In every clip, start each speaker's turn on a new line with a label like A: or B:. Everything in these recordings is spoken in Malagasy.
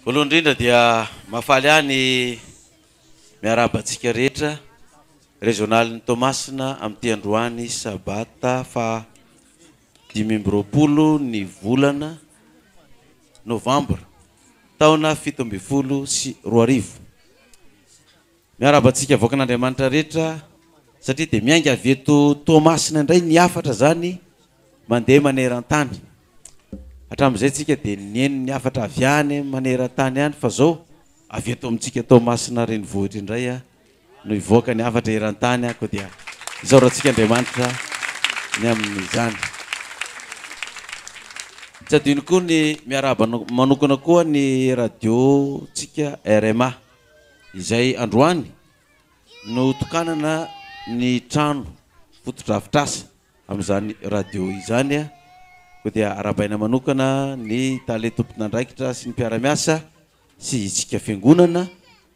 A: Voalohany indrindra dia mahafaly ahy ny miarahaba antsika rehetra rezionalin'i Toamasina amin'ity androany sabata faha dimy amby roapolo ny volana novambra taona fito ambin'ny folo sy roa arivo. Miarahaba antsika vaoakan'Andriamanitra rehetra satria dia miainga avy eto Toamasina indray ny hafatra izany mandeha maneran-tany. Hatramin'izay tsika dia nihaino ny hafatra avy any maneran-tany any fa izao avy eto amintsika Toamasina renivohitra indray no hivoaka ny hafatra eran-tany ako dia isaorantsika Andriamanitra ny amin'izany. Tsy adino koa ny miarahaba manokana koa ny radio tsika RMA. izay androany no tokanana ny trano fotodrafitrasa amin'izany radio izany koa dia arahabaina manokana ny tale tompon'andraikitra sy ny mpiara-miasa sy isika fiangonana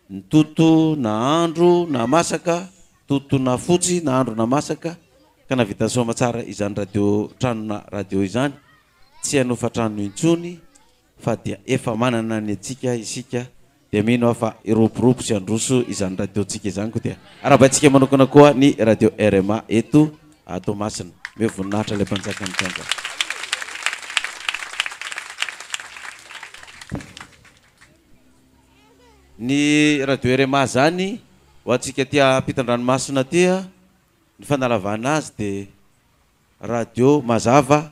A: ny toto na andro na masaka toto na fotsy na andro na masaka ka navitan'ny soamatsara izany radio tranona radio izany tsy hanofa trano intsony fa dia efa manana ny antsika isika dia mino aho fa hiroborobo sy handroso izany radiontsika izany koa dia arahabaintsika manokana koa ny radio rma eto Toamasina omeo voninahitra ilay mpanjaka mitondra ny radio rma zany ho antsika aty ampitandranomasina aty a ny fanalavana azy dia Radio Mazava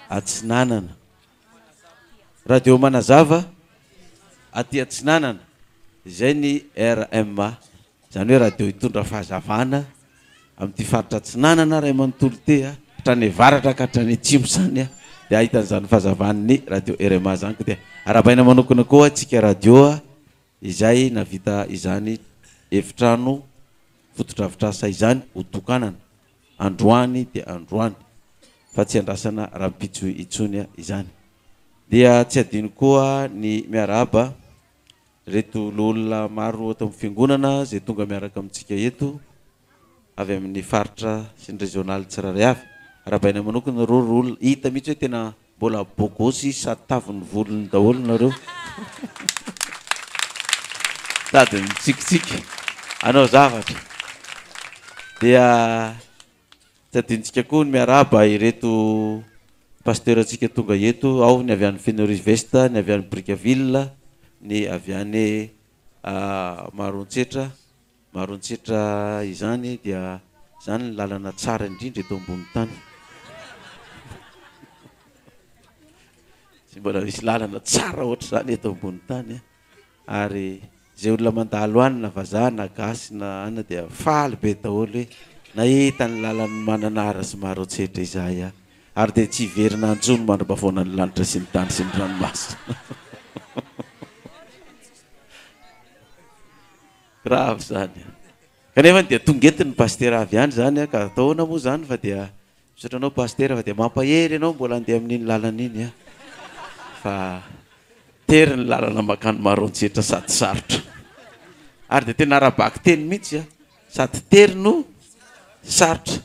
A: Atsinanana. Radio Manazava aty Atsinanana, izay ny RMA, izany hoe radio hitondra fahazavana amin'ity faritra Atsinanana ray manontolo ity a, hatrany avaratra ka hatrany atsimo izany a, dia ahitana izany fahazavana ny radio RMA izany, ka dia arahabaina manokana koa antsika radio a, izay nahavita izany efitrano fotodrafitrasa izany ho tokanana. androany dia androany fa tsy andrasana rahampitso intsony izany. Dia tsy adino koa ny miarahaba ireto loholona maro ato amin'ny fiangonana izay tonga miaraka amintsika eto avy amin'ny faritra sy ny rezionaly tsirairay avy. Arahabaina manokana ireo loholona, hita mihitsy hoe tena Mbola bogos izy sady taviny volony daholo nareo sady mitsikitsiky anao zavatra dia tsy adinontsika koa ny miarahaba ireto pasteur antsika tonga eto ao ny avy any Fenouris Vest ny avy any Brickaville ny avy any Maroantsetra Marontsitra izany dia izany ny lalana tsara indrindra eto ambony tany. Tsy mbola misy lalana tsara ohatr'izany eto ambony tany a. Ary izay olona mandalo any na vazaha na gasy na anona dia faly be daholo hoe nahita ny lalan'i Mananara sy Maroantsetra izahay a. Ary dia tsy hiverina intsony mandra-pahavaona ny lanitra sy ny tany sy ny ranomasina. Grave zany a! Kanefany dia tonga eto ny Pasitera avy any zany a, ka atao ahoana moa zany fa dia misaotra anao Pasitera fa dia mampahery ianao mbola handeha amin'iny lalana iny a! Fa tery ny lalana mankany Maroantsetra sady sarotra. Ary dia tena ara-bakiteny mihitsy a! Sady tery no sarotra.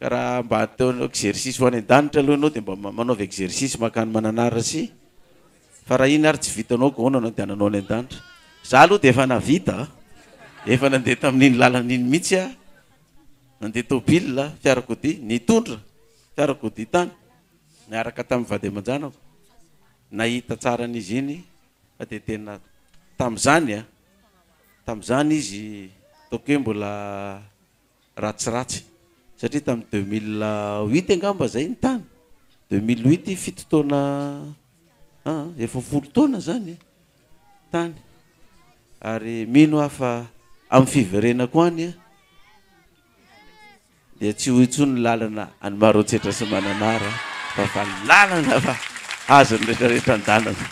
A: Raha mba te hanao exercice ho any an-danitra aloha ianao dia mba manaova exercice mankany Mananarasy fa raha iny ary tsy vitanao gaona no andehananao any an-danitra. Za aloha dia efa nahavita a! Efa nandeha tamin'iny lalana iny mihitsy aho, nandeha tôbila, fiarakodia, nitondra fiarakodia tany niaraka tamin'ny vady aman-janako, nahita tsara an'izy iny fa dia tena tamin'izany a! Tamin'izany izy ataoko hoe mbola ratsiratsy satria tamin'ny deux mille huit angamba izay ny tany, deux mille huit fito taona aa efa folo taona izany tany ary mino aho fa amin'ny fiverenako any an dia tsy ho intsony ny lalana any Maroantsetra sy Mananara fa fa lalana fa azon'ny rehetrarehetra an-dalana.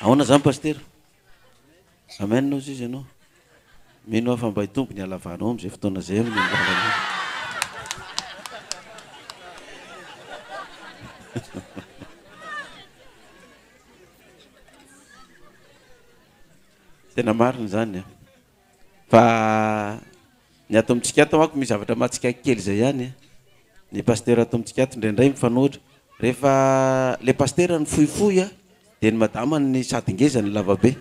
A: Ahoana izany Pasitera? Amen ozy izy anao. Mino aho fa mba hitombo ny halavanao amin'izay fotoana izay amin'ny anjaranao. Tena marina izany. Fa ny ato amintsika ato manko misy zavatra mahatsiaky kely izay ihany e. Ny pasitera ato amintsika ato indraindray mifanohitra. Rehefa ilay pasitera no fohifohy an, dia ny madama no sady ngeza no lava be.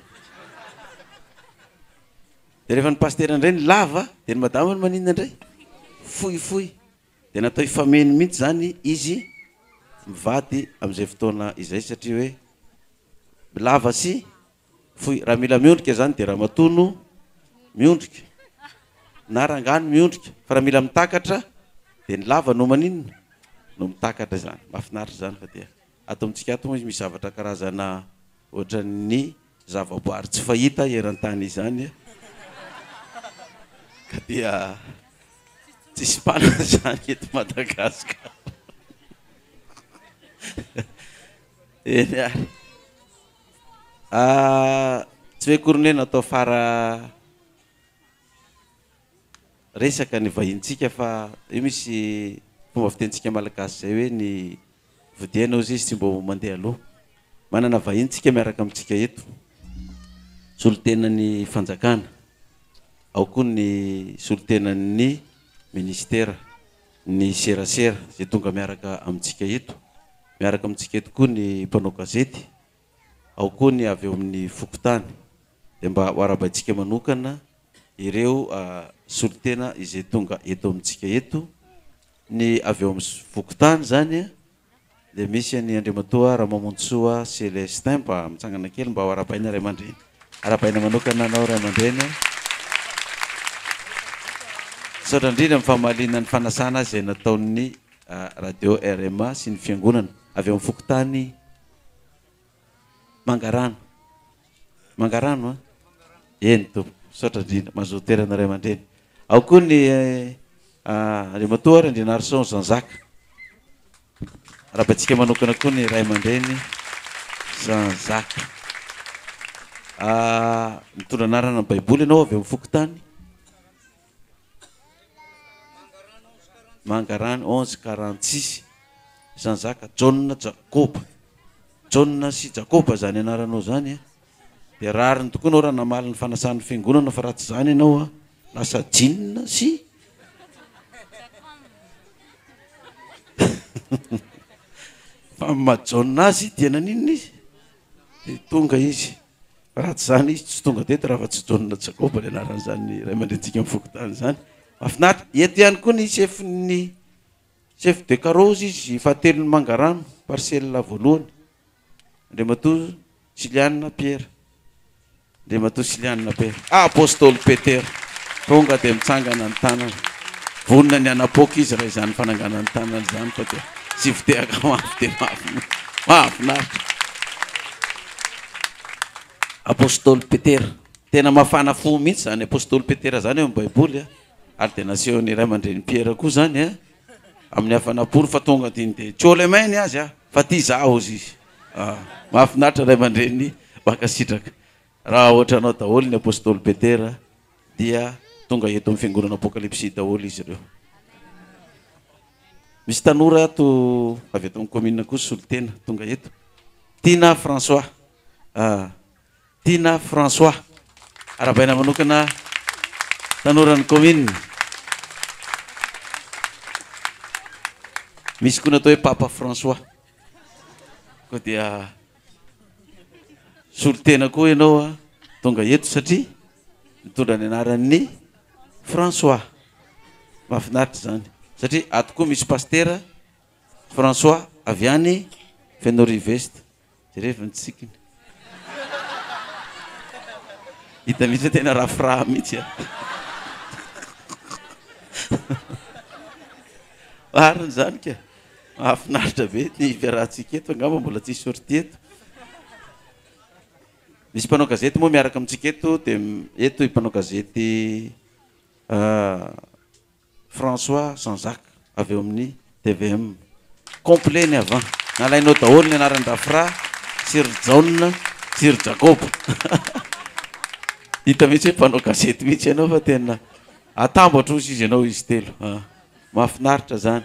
A: Dia rehefa ny pasitera indray no lava an, dia ny madama no maninona indray? Fohifohy. Dia natao hifameno mihitsy izany izy mivady amin'izay fotoana izay satria hoe lava sy Foy, raha mila miondrika izany dia ramatoa no miondrika na rangahy no miondrika fa raha mila mitakatra dia ny lava no maninona? no mitakatra izany. Mahafinaritra izany fa dia ato amintsika ato moa izy misy zavatra karazana ohatran'ny zavaboary tsy fahita eran-tany izany ka dia tsisy mpanana izany eto Madagasikara. Eny ary. Ahh tsy hoe akory ny hoe natao fara resaka ny vahinintsika fa io misy fomba fitenintsika malagasy izay hoe ny vodihaina hozy izy tsy mba ho mandeha aloha. Manana vahiny tsika miaraka amintsika eto, solontenan'ny fanjakana, ao koa ny solontenan'ny ministera. ny serasera izay tonga miaraka amintsika eto, miaraka amintsika eto koa ny mpanao gazety, ao koa ny avy eo amin'ny fokontany, dia mba ho arahabaintsika manokana ireo solontena izay tonga eto amintsika eto, ny avy eo amin'ny fokontany izany an! dia misy an'i Andriamatoa Ramamonjisoa Celestin mba mitsangana kely mba ho arahabaina ray aman-dreny. Arahabaina manokana anao ray aman-dreny a. Misaotra indrindra amin'ny famaliana ny fanasana azy izay nataon'ny radio RMA sy ny fiangonana avy amin'ny fokontany. Mangarano. Mangarano an? Eny tompoko. Misaotra indrindra. Mazoto toerana ray aman-dreny. Ao koa ny Andriamatoa Randrianarison Jean Jacques. Arahabantsika manokana koa ny ray aman-dreny Jean Jacques. Mitondra anarana ny Baiboly ianao avy amin'ny fokontany. Mangarano onze karantsisy. Zany zaka Jaona Jakoba. Jaona sy Jakoba zany anaranao zany a. Dia rariny tokoa anao raha namaly ny fanasan'ny fiangonana fa raha tsy zany ianao a lasa jinina sy fa maha Jaona azy dia naninona izy? Dia tonga izy. Raha tsy izany izy tsy tonga teto raha fa tsy John Jacob ilay anaran'izany ray aman-drenintsika amin'ny fokontany izany. Mahafinaritra. Eto ihany koa ny chefin'ny chef de carrosse izy fahatelon'ny Mangarano, parcelle voalohany. Andriamatoa Siliana Pierre. Andriamatoa Siliana Pierre. Ah, Apostoly Petera. Tonga dia mitsangana ny tanana. Vonona ny hanapoaka izy raha izany fananganana ny tanana izany fa dia tsy fitehaka mafy dia mafy. Mahafinaritra. Apostoly Petera. Tena mafana fo mihitsy izany Apostoly Petera izany eo amin'ny Baiboly a. Ary dia nasehon'ny Ray aman-dReny Piera koa izany a, amin'ny hafana pory fa tonga dia niteny Tiolemey ny azy a, fa tia izaho hozy izy. Mahafinaritra Ray aman-dReny, mankasitraka. Raha ohatranao daholo ny Apostoly Petera. dia tonga eto amin'ny fiangonana Apokalipsy daholo izy ireo. Misy tanora ato avy eto amin'ny commune koa solotena tonga eto. Tina François. Ah, Tina François. Arabaina manokana tanoran'ny commune. Misy koa natao hoe Papa François. Koa dia Solontena koa ianao tonga eto satria mitondra ny anaran'ny François. Mahafinaritra izany satria ato koa misy Pasitera François avy any Fenorive Est. Jerevo ny tsikiny. Hita mihitsy hoe tena rafiraha mihitsy. Marina izany ka. Mahafinaritra be ny fiarahantsika eto, angamba mbola tsy sortie eto. Misy mpanao gazety moa miaraka amintsika eto dia eto i mpanao gazety François Jean Jacques avy eo amin'ny tvm. Complet ny avant. Nalainao daholo ny anaran'i Rafra sy ry Jaona sy ry Jakoba. Hita mihitsy hoe mpanao gazety mihitsy ianao fa tena atambatra hozy izy ianao izy telo. Mahafinaritra izany.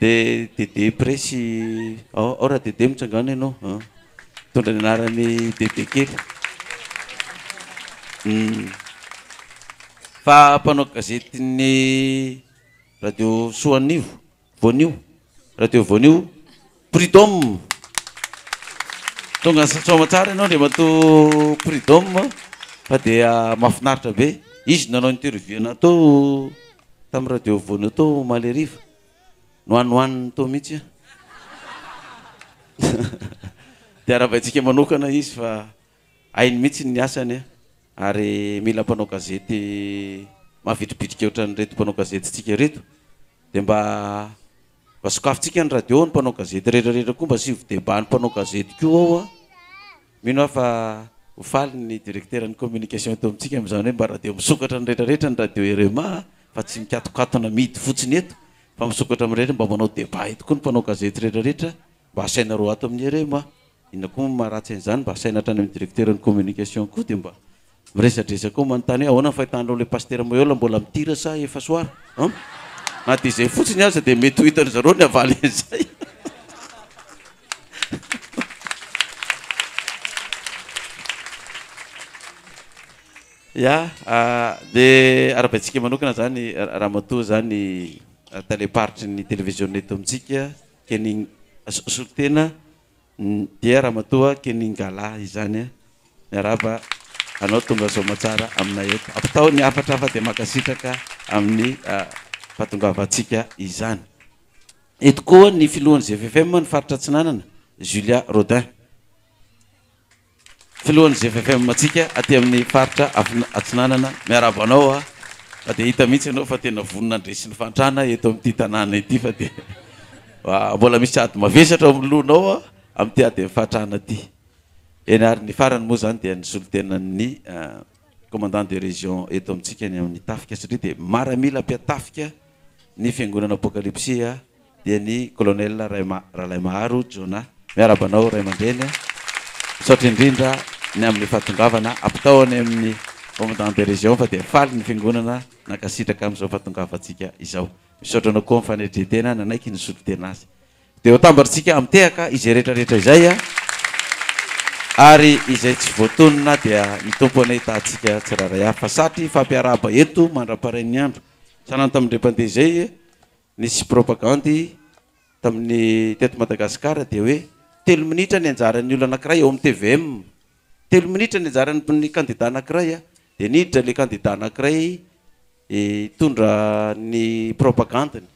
A: De Dede Presy Ao ao Radede mitsangàna ianao a! Mitondra ny anaran'i Dede kely. Hum. Fa mpanao gazetin'ny radio soa anio, voanio, radio voanio, Prud'homme. Tonga sa- soa aman-tsara ianao Andriamatoa Prud'homme fa dia mahafinaritra be. Izy no nanao interview anao tao. Tamin'ny radio afovoany tao omaly hariva. Nohanohaniny tao mihitsy an. Dia arabaintsika manokana izy fa hainy mihitsy ny asany an. Ary mila mpanao gazety mavitribitrika ohatran'ireto mpanao gazetintsika ireto. Dia mba Mba sokafintsika ny radio ny mpanao gazety rehetra rehetra koa mba asivo debat ny mpanao gazety koa ao a! Mino aho fa ho faly ny directeur ny communication eto amintsika amin'izany hoe mba radio misokatra ny rehetra rehetra ny radio RMA a! Fa tsy mikatokatona mihidy fotsiny eto fa misokatra amin'ny rehetra mba manao debat eto koa ny mpanao gazety rehetra rehetra Mba asainareo ato amin'ny REM a! Inona koa moa maharatsy an'izany? Mba asaina hatrany amin'ny directeur-n'ny communication koa dia mba miresadresa koa manontany hoe ahoana ny fahitanareo ilay Pasitera Moyola mbola mitira sa efa soara an? Na dia izay fotsiny aza dia mety ho hitan-dry zareo ny havaly an'izay. Ya, dia arabaintsika manokana izany Ramatoa izany talem-paritry ny televiziona eto amintsika. Kening solotena dia ramatoa Keningala izany a! Miarahaba anao tonga soa aman-tsara aminay eto. Ampitao ny hafatra hafa dia mankasitraka amin'ny fahatongavantsika izany. Eto koa ny filohan'ny GFFM ny faritra Atsinanana, Julia Rodin. Filohan'ny GFFM antsika aty amin'ny faritra Atsinanana, miarahaba anao a! Fa dia hita mihitsy ianao fa tena vonona handresy ny fahantrana eto amin'ity tanàna ity fa dia mbola misy ady mavesatra ao amin'ny lohanao amin'ity adin'ny fahantrana ity. Eny ary ny farany moa izany dia ny solontenan'ny commandant de région eto amintsika ny amin'ny tafika satria dia maramila mpihatafika ny fiangonana Apokalipsy a! dia ny Colonel Ralaimaharo Jonah. Miarahaba anao ray aman-dreny a! Misaotra indrindra ny amin'ny fahatongavana. Ampitao any amin'ny Commandant de Région fa dia faly ny Fiangonana nankasitraka amin'izao fahatongavantsika izao. Misaotra anao koa amin'ny fanetren-tena nanaiky nisotro tena azy. Dia ho tambarintsika amitehaka izay rehetra rehetra izay a! Ary izay tsy voatonona dia ny Tompo anie hitahantsika tsirairay avy. Fa satry hifampiarahaba eto mandra-parain'ny andro. Sanatry ny mpandeha izay Nisy propagandy tamin'ny teto Madagasikara dia hoe telo minitra ny anjaran'ny olona anankiray ao amin'ny tvm. Telo minitra ny anjaran'ny kandida anankiray an! Dia niditra ilay kandida anankiray hitondra ny propagandiny.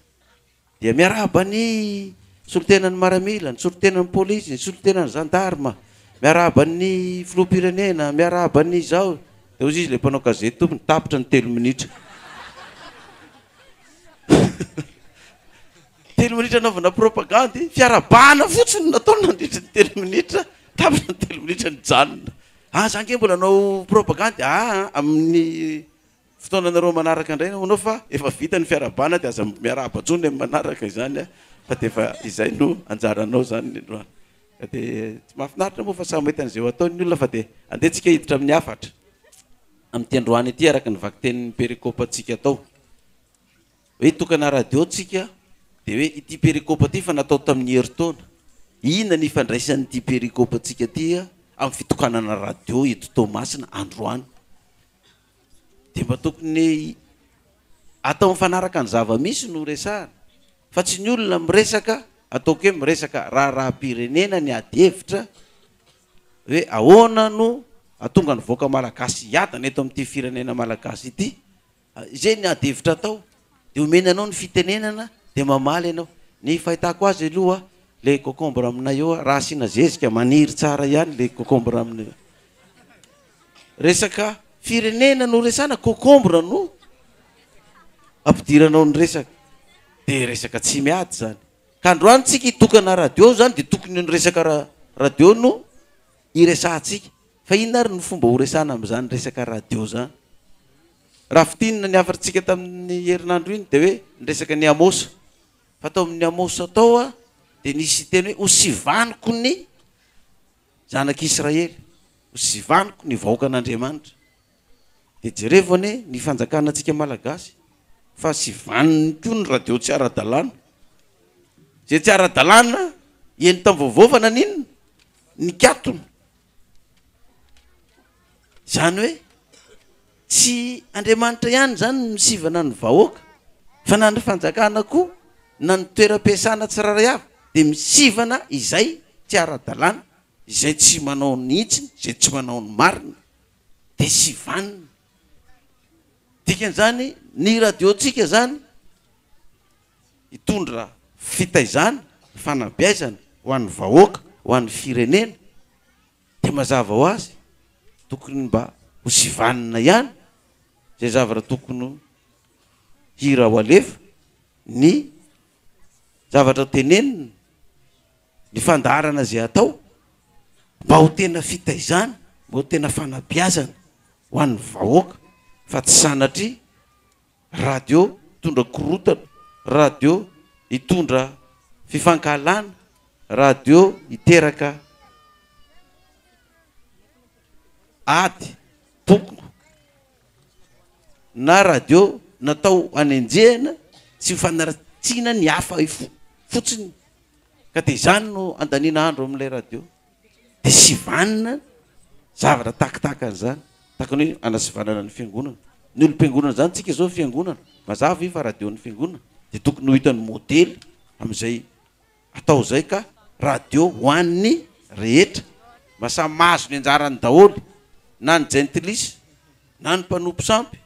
A: Dia miarahaba ny solontenan'ny maramila, ny solontenan'ny polisy, ny solontenan'ny zandarma, miarahaba ny filoham-pirenena, miarahaba ny izao. Dia hozy izy ilay mpanao gazety tompony, tapitra ny telo minitra. telo minitra anaovana propagandy fiarabahana fotsiny nataony nandritry ny telo minitra tapitra ny telo minitra ny janona ah za nge mbola anao propagandy aa ah, amin'ny fotoana anareo manaraka indray anao fa efa vita ny fiarabahana dia aza miarahaba tsony amin'ny manaraka izany a ah. fa dia efa izay no anjaranao zany ny androany ka dia tsy mahafinaritra moa fa samy mahita an'izay ho ataon'ny olona fa dia andeha tsika hiditra amin'ny hafatra Amin'ity androany ity, araka ny vakitenin'ny perikopantsika tao hoe Tokana Radio tsika dia hoe ity perikopa ity fa natao tamin'ny herintaona, inona ny ifandraisan'ity perikopantsika ity amin'ny fitokanana radio eto Toamasina androany? Dia mba tokony atao mifanaraka ny zava-misy no resahana fa tsy ny olona miresaka ataoko hoe miresaka raharaham-pirenena ny ady hevitra, hoe ahoana no atonga ny vahoaka malagasy hiadana eto amin'ity firenena malagasy ity, izay ny ady hevitra atao dia omena anao ny fitenenana dia mamaly ianao, ny fahitako azy aloha ilay concombre aminay eo raha asiana zezika maniry tsara ihany ilay concombre aminay eo, resaka firenena no resahana concombre no ampidiranao ny resaka dia resaka tsy miady izany. Ka androany tsika hitokana radio zany de tokony io ny resaka radio no hiresahantsika. Fa inona ary ny fomba horesahana amin'izany resaka radio zany? Raha fintinina ny hafatr'tsika tamin'ny herinandro iny de hoe ny resaka ny Amosa. Fa tao amin'ny Amosa tao a de nisy teny hoe hosivaniko ny zanak'Israely, hosivaniko ny vahoakan'Andriamanitra. Dia jerevo anie ny fanjakana antsika malagasy fa sy vaniny koa ny radio tsy ara-dalàna. Izay tsy ara-dalàna eny tam-vaovao fa naninona? Nikatona. Izany hoe tsy Andriamanitra ihany izany no nisivana ny vahoaka fa na ny fanjakana koa na ny toeram-piasana tsirairay avy dia misivana izay tsy ara-dalàna, izay tsy manao ny hitsiny, izay tsy manao ny marina. dia tsy vanona. Dikan'izany, ny radiontsika izany hitondra fitaizana, fanabeazana ho an'ny vahoaka, ho an'ny firenena, dia mazava ho azy, tokony mba ho tsy vanona ihany izay zavatra tokony ho hira ho alefa, ny zavatra tenenina. Ny fandaharana izay atao mba ho tena fitaizana, mba ho tena fanabeazana ho an'ny vahoaka fa tsy sanatria radio mitondra korontana, radio hitondra fifankahalana, radio hiteraka ady, pokona, na radio natao hanenjehana sy fanaratsiana ny hafa fotsiny ka dia izany no andaniana andro amin'ilay radio dia sivanina zavatra tahaka tahaka an'izany tahaka ny hoe anasivanana ny fiangonana ny olom-piangonana izany tsika izao fiangonana mazava ve fa radio ny fiangonana dia tokony ho hitan'ny modely amin'izay Atao izay ka radio ho an'ny rehetra mba samy mahazo ny anjarany daholo na ny jentilisa na ny mpanompo sampy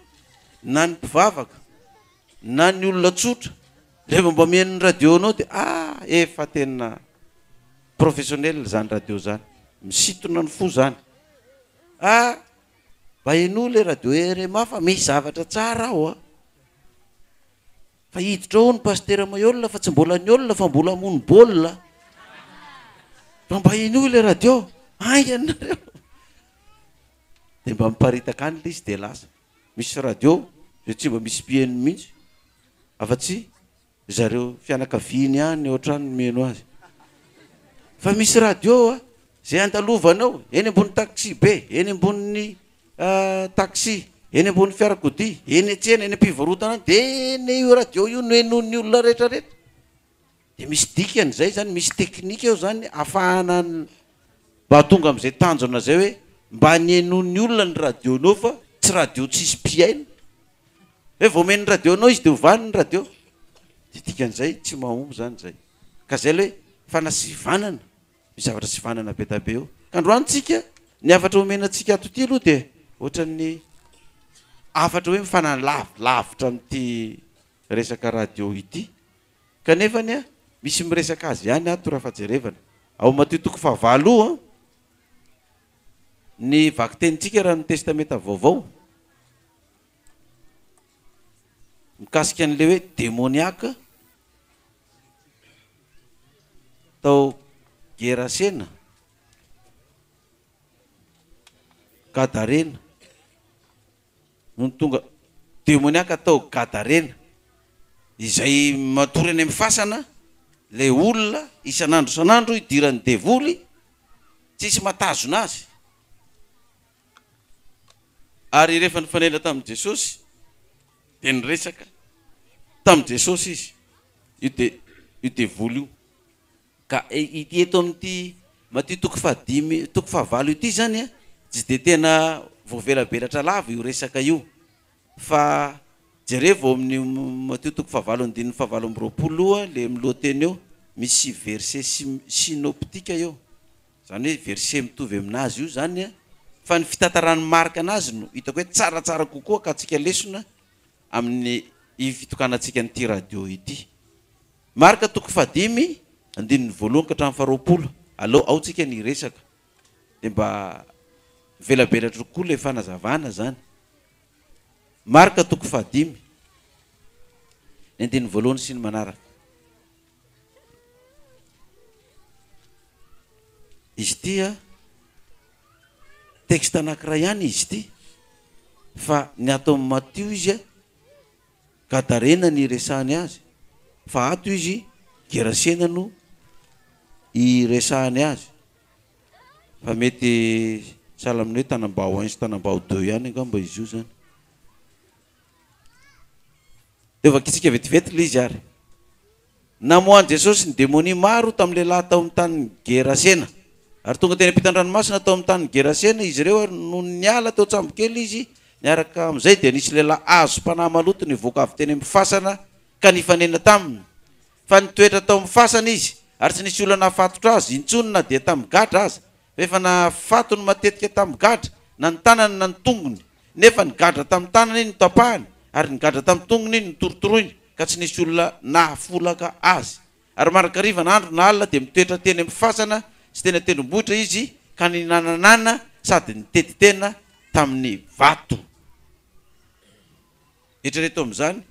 A: na ny mpivavaka na ny olona tsotra rehefa mba mihaino ny radio anao dia ah efa tena professionnel izany radio izany misintona ny fo izany ah mba henoy ilay radio rma fa misy zavatra tsara ao an. Fa hiditra ao ny pasitera Maiola fa tsy mbola niôla fa mbola hamono baolina. Fa mba henoy ilay radio, haingana nareo. Dia mba miparitaka any ilay izy dia lasa. Misy radio izay tsy mba misy mpiheno mihitsy afa-tsy ry zareo fianakaviany ihany ao an-trano no miheno azy. Fa misy radio izay andalovanao eny ambony taxi be, eny ambonin'ny. taxi, eny ambony fiarakodia, eny an-tsena, eny am-pivarotana any, dia ny io radio io no henoin'ny olona rehetra rehetra. Dia misy dikany izay izany, misy teknika eo izany hahafahana mba tonga amin'izay tanjona izay hoe mba ny henoin'ny olona ny radio-nao fa tsy radio tsisy mpihaino. Hoe vao omeny ny radio anao izy dia hovany ny radio. Dia dikan'izay tsy mahomby izany izay. Ka izay ilay hoe fanasivanana. Misy zavatra tsy vanana be dabe eo. Ka androany tsika, ny hafatra omena antsika ato ity aloha dia ohatran'ny hafatra hoe mifanany lavi, lavitra amin'ity resaka radio ity. Kanefa anie, misy miresaka azy ihany ato raha fajerevana. Ao Matio toko fahavalo o, ny vakitenintsika raha ny Testamenta Vaovao. Mikasika an'ilay hoe demoniaque tao Gerasena, Gadarena, nony tonga demoniaque tao Gadarena, izay matory any amin'ny fasana ilay olona isan'andro isan'andro idiran'ny devoly, tsisy mahatazona azy. Ary rehefa nifanena tamin'i Jesosy, dia niresaka tamin'i Jesosy izy, io de, io devoly io. Ka ity eto amin'ity Matio toko fahadimy, toko fahavalo ity izany, tsy dia tena voavelabelatra lava io resaka io. Fa jerevo ao amin'io Matio toko fahavalo andininy fahavalo amby roapolo io le milohateny eo misy verset synoptika eo zany hoe verset mitovy aminazy io zany a fa ny fitantaran'i Marc anazy no hitako hoe tsaratsara kokoa ka antsika lesona amin'ny fitokanantsika an'ity radio ity. Marc toko fahadimy andininy voalohany ka hatramin'ny faharoapolo aleo ao tsika ny hiresaka dia mba mivelabelatra kokoa ilay fanazavana izany. Marka toko fahadimy, ny andininy voalohany sy ny manaraka. Izy ity a, texte anankiray ihany izy ity, fa ny ato amin'ny Matio izy a, Gadarena ny iresahany azy fa ato izy Gerasena no iresahany azy fa mety sahala amin'ny hoe Tanambao un sy Tanambao deux ihany angamba izy io zany. Dia vakitsika vetivety ilay izy ary. Namoahan'i Jesosy ny demonia maro tamin'ny lehilahy tao amin'ny tanin'i Gerasena. Ary tonga teny am-pitan-dranomasina tao amin'ny tanin'i Gerasena izy ireo, ary nony niala teo an-tsambo kely izy, niaraka amin'izay dia nisy lehilahy azom-panahy maloto nivoaka avy teny amin'ny fasana ka nifanena taminy. Fa nitoetra tao amin'ny fasana izy, ary tsy nisy olona nahafatotra azy intsony na dia tamin'ny gadra aza, Efa nahafatony matetika tamin'ny gadra, na ny tanany na ny tongony. Nefa ny gadra tamin'ny tanany iny no tapahany, ary ny gadra tamin'ny tongony iny no torotoroiny, ka tsy nisy olona nahafolaka azy. Ary marakariva na andro na alina dia mitoetra teny amin'ny fasana sy teny an-tendrombohitra izy, ka ninananana sady nitety tena tamin'ny vato. Eritrereto amin'izany,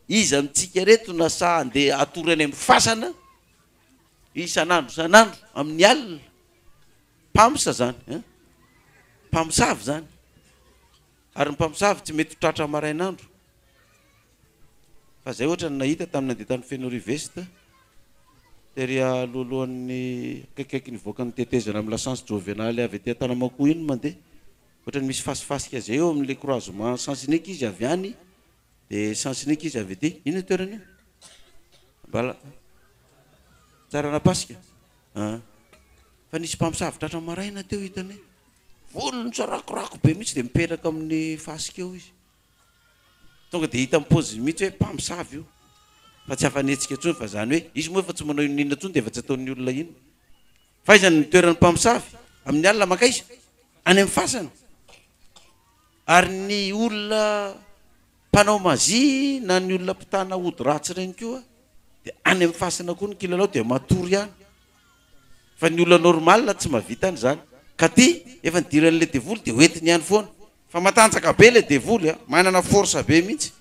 A: Iza amintsika ireto na sahy handeha hatory any amin'ny fasana? Isan'andro isan'andro amin'ny alina. Mpamosavy izany eh. Mpamosavy izany. Ary ny mpamosavy tsy mety ho tratra marainandro. Fa izay ohatra no nahita tamin'ny nandeha tany Fenoria Veste, tery alohalohan'ny akaikikaiky ny hivoakan'ny tetezana amin'ny lasantsy Jovenale avy aty Antanamakoa iny mandeha. Ohatran'ny misy fasifasika izay eo amin'ilay croisement Sens Unique izy avy any De sens unique izy avy aty. Inona toerana io? Bala. Tsaranapasika. Ah. Fa nisy mpamosavy tratra maraina teo hitany volony tsarakorako be mihitsy dia mipetraka amin'ny fasika eo izy. Tonga dia hita mipoziny mihitsy hoe mpamosavy io. Fa tsy afa-nihetsika intsony fa izany hoe izy moa efa tsy manao inona inona intsony dia efa tsy ataon'ny olona inona. F'aiza no nitoeran'ny mpamosavy amin'ny alina? Mankaiza? Any amin'ny fasana? Ary ny olona mpanao mazia na ny olona mpitana ody ratsy ireny koa dia any amin'ny fasana koa ny kilalao dia matory ihany. Fa ny olona normal tsy mahavita an'izany. Ka ty efa nidiran'ilay devoly dia hoentiny ihany foana. Fa matanjaka be ilay devoly a! Manana force be mihitsy.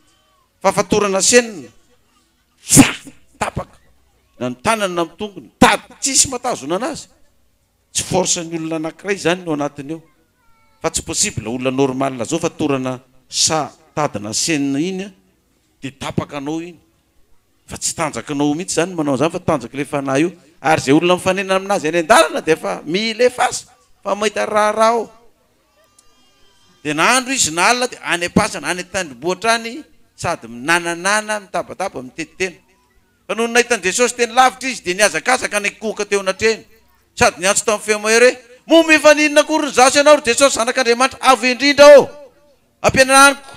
A: Fa fatorana senina. Tsa! Tapaka! Na ny tanany na ny tongony. Tady! Tsisy mahatazonana azy. Tsy force ny olona anakiray zany no anatiny ao. Fa tsy possible olona normal zao fa torana sa tady na scène iny de tapaka anao iny. Fa tsy tanjakinao mihitsy zany ny manao an'zany fa tanjaky le fanahy io. Ary ze olona mifanena aminazy any an-dalana de efa mila efasa fa mahita raharaha ao. Dia na andro izy na alina dia any am-pasana, any an-tendrombohitra any sady minananana, mitabataba, mitety tena. Fa nony nahita an'i Jesosy teny lavitra izy dia nihazakazaka nikohoka teo anatrehany sady niantso tamin'ny feo mahery hoe, Moa mifaninona akory ny zaza ianao ry Jesosy Zanak'Andriamanitra Avo Indrindra ô? Ampianaro amiko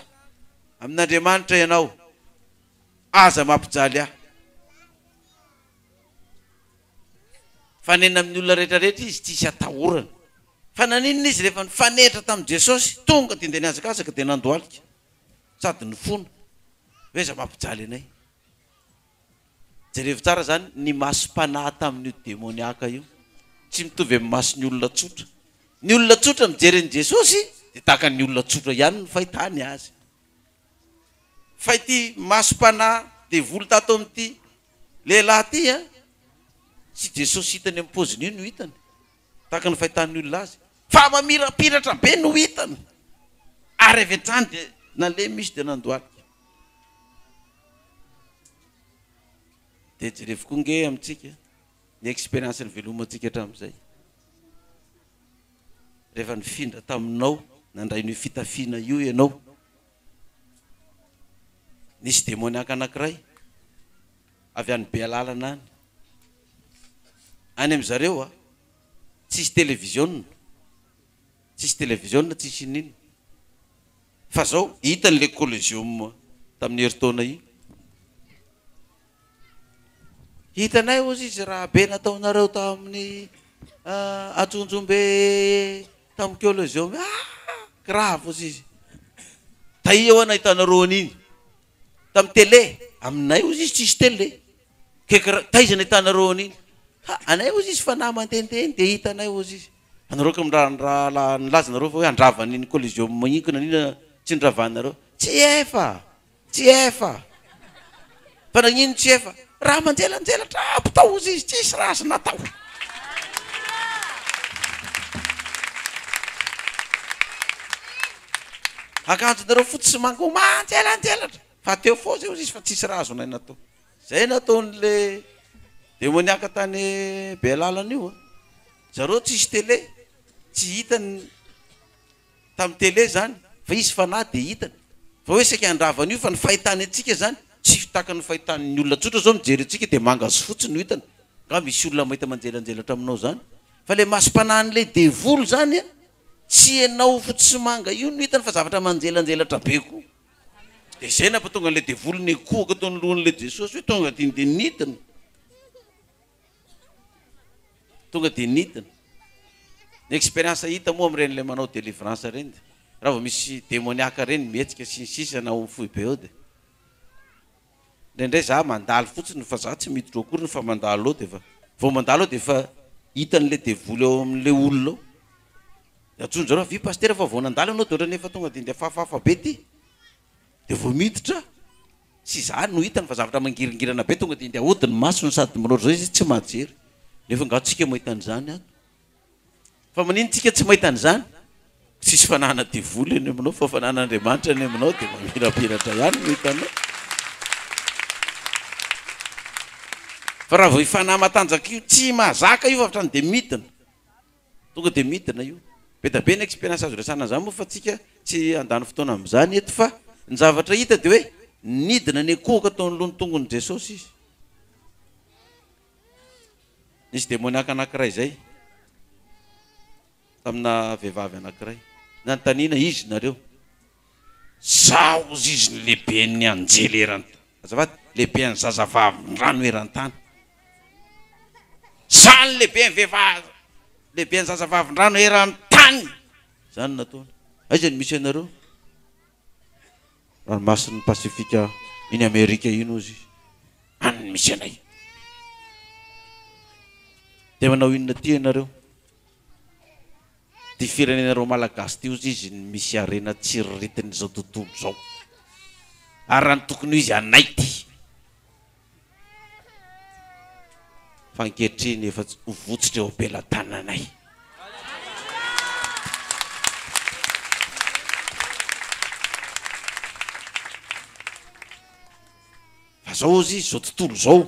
A: amin'Andriamanitra ianao, aza mampijaly ahy. Fa nena amin'ny olona rehetra rehetra izy tsy hisy atahorana. Fa naninona izy rehefa nifanehitra tamin'i Jesosy? Tonga dia ndeha nihazakazaka dia nandohalika sady nifona. Hoe iza mampijaly anay? Jerevo tsara izany, ny masom-panahy tamin'io demoniaka io tsy mitovy amin'ny mason'ny olona tsotra. Ny olona tsotra mijery an'i Jesosy dia tahaka ny olona tsotra ihany ny fahitany azy. Fa ity masom-panahy devoly tato amin'ity Lehilahy ity an! Tsy Jesosy hitany amin'ny paoziny io no hitany, tahaka ny fahitan'ny olona azy, fa mamirapiratra be no hitany. Ary avy hatrany dia nalemy izy dia nandohalika. Dia jerevo koa ange amintsika ny expérience nivelomantsika hatramin'izay. Rehefa nifindra taminao, nandray an'io fitafiana io ianao, Nisy demoniaka anankiray avy any Bealalana any. Any amin-dry zareo a, tsisy televiziona, tsisy televiziona, tsisy inon'inona. Fa zao, hitany le Colosseum tamin'ny herintaona iny. Hitanay ozy izy raha be nataonareo tamin'ny Antsonjombe tamin'ny Coliseum iny ah! Grave ozy izy. Taia hoa nahitanareo an'iny tamin'ny tele? Aminay ozy izy tsisy tele. Kekra, taiza nahitanareo an'iny? Ha, anay ozy izy fa na mandehandeha eny dia hitanay ozy izy. Anareo ka mra, ndra la, nilaza nareo fa hoe handrava an'iny Coliseum iny ka nanina tsy niravanareo? Tsy efa! Tsy efa. Fa nagnino tsy efa? Raha manjelanjelatra aby tao ozy izy tsisy raha azo natao. Akanjonareo fotsy sy manga manjelanjelatra fa teo foana zay ozy izy fa tsisy raha azonay natao. Zay nataony le demoniaka tany bealalana io an. Zareo tsisy tele tsy hitany. Tamin'ny tele izany, fa izy fanahy dia hitany. Fa hoe saika handrava an'io, fa ny fahitany antsika izany, tsy tahaka ny fahitan'ny olona tsotra izao mijery antsika dia manga sy fotsy no hitany. Nga misy olona mahita manjelanjelatra aminao izany? Fa ilay masom-panahin'ilay devoly izany, tsy ianao fotsy manga io no hitany fa zavatra manjelanjelatra be koa. Dia izay nampatonga an'ilay devoly nikohaka teo anoloan'ilay Jesosy hoe tonga aty dia nidina. Tonga dia nidina. Ny expérience hita moa amin'ireny ilay manao délivrance ireny dia raha vao misy demoniaka ireny mihetsika sy ny sisa na amin'ny foibe eo dia indraindray izaho mandalo fotsiny fa izaho tsy miditra ao akoriny fa mandalo ao dia efa vao mandalo ao dia efa hitan'ilay devoly ao amin'ilay olona ao. Dia antsoin-dry zareo, avia pasitera fa vao nandalo ianao dia ohatran'ny efa tonga dia ndeha fafafa be ity. Dia vao miditra aho. Tsy izany no hitany fa zavatra mangiringirana be tonga dia ndeha hody ny masony sady manao izao izy tsy mahajery. Nefa angaha tsika mahita an'izany ato? Fa manino tsika tsy mahita an'izany? Tsisy fananana devoly any aminao fa fananan'Andriamanitra any aminao dia mamirapiratra ihany no hitanao. Fa raha vao io fanahy matanjaka io tsy mahazaka io fa hatrany dia midina. Tonga dia midina io. Be da be ny experience azo resahana an'izany moa fa tsika tsy handany fotoana amin'izany eto fa ny zavatra hita dia hoe nidina nikohoka tao anoloan'ny tongon'i Jesosy izy. Nisy demoniaka anankiray izay tamina vehivavy anankiray. Nanontaniana, izy nareo? Izaho hozy izy no lehiben'ny anjely eran-tany, azafady, lehiben'ny zazavavindrano eran-tany. Izaho no lehiben'ny vehivavy, lehiben'ny zazavavindrano eran-tany. Izany no nataony. Aiza no misy anareo? Ranomasin'ny Pasifika iny Amerika iny hozy izy. Any no misy anay. Dia manao inona aty ianareo? Ty firenena reo malagasy ty ozy izy no misy harena tsiriritin izao tontolo izao ary raha ny tokony ho izy anay ty fa ankehitriny efa tsy ho votsitra eo ampelatananay. Fa zao ozy izy zao tontolo zao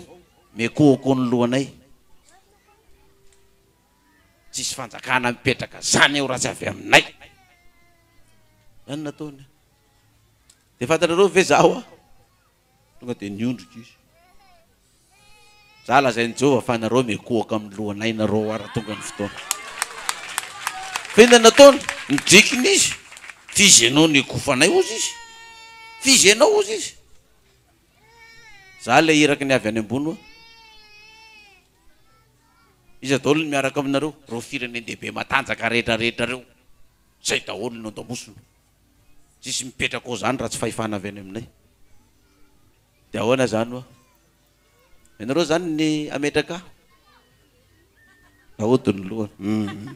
A: miakohako ny lohanay. Tsisy fanjakana mipetraka zany eo raha tsy avy aminay. Zany nataony. De fantatrareo ve za hoa? Tonga de niondrika izy. Za lazain'i Jehovah fa nareo mikohaka amin'ny lohanay nareo hoa raha tonga ny fotoana. F'inona nataony? Nidrikina izy. F'izy ianao no ekofanay hozy izy. F'izy ianao hozy izy. Za le iraky ny avy any ambony hoa. Iza daholo ny miaraka aminareo? Reo firenen-dehibe matanjaka rehetra rehetra reo. Zay daholo no andamosina. Tsisy mipetraka ao zany raha tsy fahefana avy any aminay. De ahoana zany hoa? Ianareo zany ny ametraka? Naody ny lohany. Hum.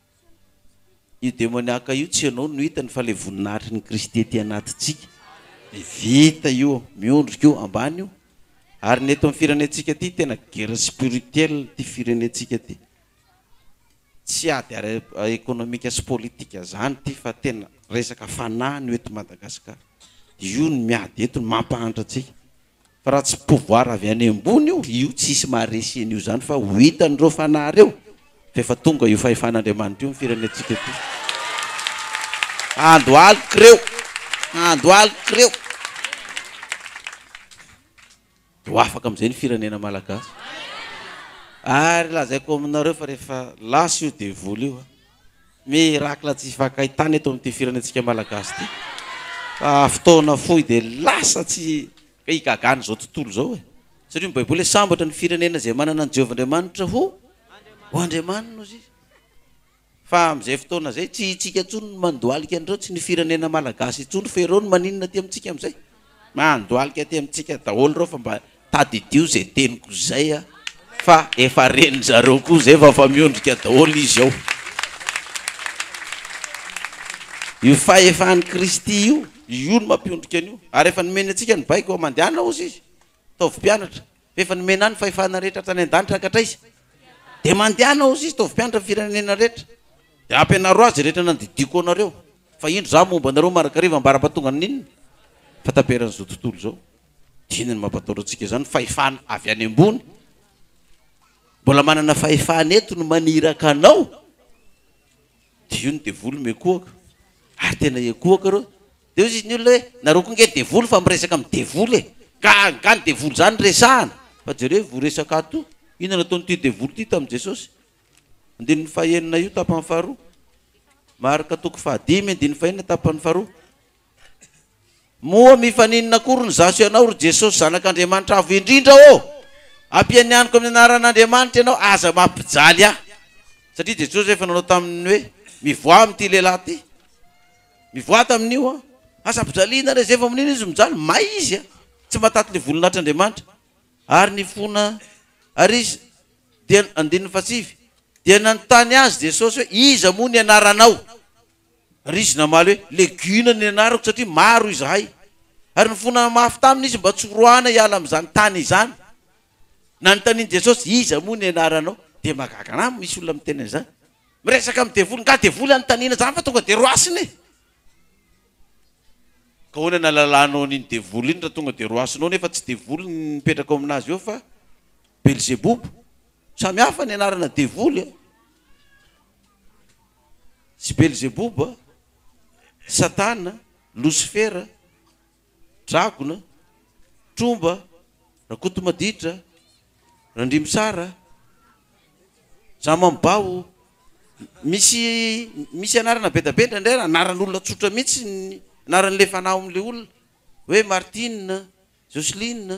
A: Io demoniaka io tsy ianao no hitany fa ilay voninahitry ny Kristy ety anatintsika. Dia vita io, miondrika io, ambany io. Ary ny eto amin'ny firenentsika ity tena guerre spirituelle ity firenentsika ity. Tsy ady ara ekonomika sy politika izany ity fa tena resaka fanahy no eto Madagasikara. Io no miady eto no mampahantra antsika. Fa raha tsy pouvoir avy any ambony io, io tsisy maharesy an'io zany fa ho hitan'ireo fanahy reo fa efa tonga io fahefan'Andriamanitra io amin'ny firenentsika ity. Ando aloky reo, ando aloky reo de ho afaka amizay ny firenena Malagasy. Ary lazaiko aminareo fa rehefa lasa io devoly io a, Miracle tsy vakay tany eto amin'ity firenentsika malagasy ity fa fotoana fohy dia lasa tsy ka igagana izao tontolo izao e. Satria ny baiboly hoe sambatra ny firenena izay manana an'i Jehovah Andriamanitra ho ho andriamaniny hozy izy. Fa amin'izay fotoana izay tsy hitsika intsony ny mandohalika an'ireo tsy ny firenena malagasy intsony fa ireo no maninona aty amintsika amin'izay. Mandohalika aty amintsika daholo ireo fa mba tadidio zay teniko zay a! fa efa ren'ny zareo koa zay fa efa miondrika daholo izy ao. Io fahefan'i Kristy io, io no mampiondrika an'io. Ary efa nomeny antsika ny baiko, mandehana ozy izy, ataovy mpianatra. F'efa nomena ahy ny fahefana rehetra hatrany an-danitra hankhatraiza. Dia mandehana ho sisa, ataovy mpianatra ny firenena rehetra. Dia hampianaro azy rehetra nandidiako anareo. Fa indro izaho momba anareo marakariva ambara-patongan' inona? Fahataperan' izao tontolo izao. Dia inona no mampatahotra antsika izany? Fahefana avy any ambony. Mbola manana fahefana eto ny maniraka anao. Dia io ny devoly miekohoka. Ary tena hiekohoka ireo. Dia hoy izy ny olona hoe, Nareo koa nge devoly fa miresaka amin'ny devoly e! Ka angaha ny devoly izany resahana? Fa jereo io voresaka ato io, inona nataon'ity devoly ity tamin'i Jesosy? Andininy fahenina io tapany faharoa, Marka toko fahadimy andininy fahenina tapany faharoa, Moa mifaninona akory ny za sy ianao, ry Jesosy Zanak'Andriamanitra Avo Indrindra ô? Ampianianiko amin'ny anaran'Andriamanitra ianao, aza mampijaly ahy! Satria Jesosy efa nanao taminy hoe, Mivoaha amin'ity lehilahy ity! Mivoata amin'io an! Asa ampijaliana re! Zay vao mino izy mijaly, may izy an! Tsy mahataty ny volon'Atr'Andriamanitra. Ary ny fona Ary izy dia, andininy fahasivy, dia nanontany Azy Jesosy hoe, Iza moa ny anaranao? Ary izy namaly hoe, Legiona ny anarako, satria maro izahay. Ary nifona mafy taminy izy mba tsy horoahana hiala amin'izany tany izany. Nanontanian'i Jesosy, Iza moa ny anaranao? Dia mahagaga an'ahy ny misy olona miteny an'izany. Miresaka amin'ny devoly, nga devoly anontaniana zany fa tonga de roasina e! Ka ahoana ny alalànao an'iny devoly iny raha tonga de roasina ao nefa tsy devoly ny mipetraka ao amin'azy eo fa belzebobo? Samy hafa ny anarana devoly a! Tsy belzebobo a! Satana, losifera, Dragona, Tromba, Rakotomaditra, Randrimisara, Jamambao, misy misy anarana bedabetra ndray ary anaran'olona tsotra mihitsy ny anaran'ilay fanao amin'ilay olona hoe Martine, Joceline.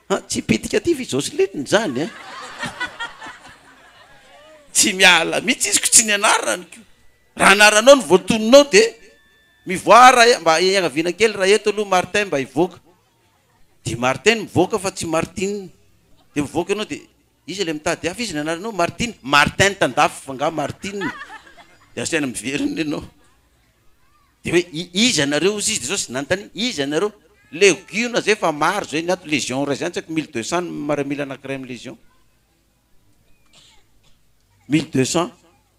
A: Ah tsy pedicatives izao sy lentiny izany a! Tsy miala mihitsy izy ko tsy ny anarany ko! Raha anaranao no voatoninao de mivoaha raha e! Mba iangaviana kely raha eto aloha Martin mba hivoaka de Martin no mivoaka fa tsy Martine! De mivoaka ianao de iza ilay mitady hafa? Iza ny anaranao? Martine? Martin tandafy fa angaha Martine? De asaina miverina ianao. Dia hoe i, iza ianareo hozy izy, dia Jesosy nanontany, iza ianareo? Legiona izay efa maro izay ny ato, légion iray izany tsy haiko mille deux cents ny miaramila anankiray amin'ny légion, mille deux cents.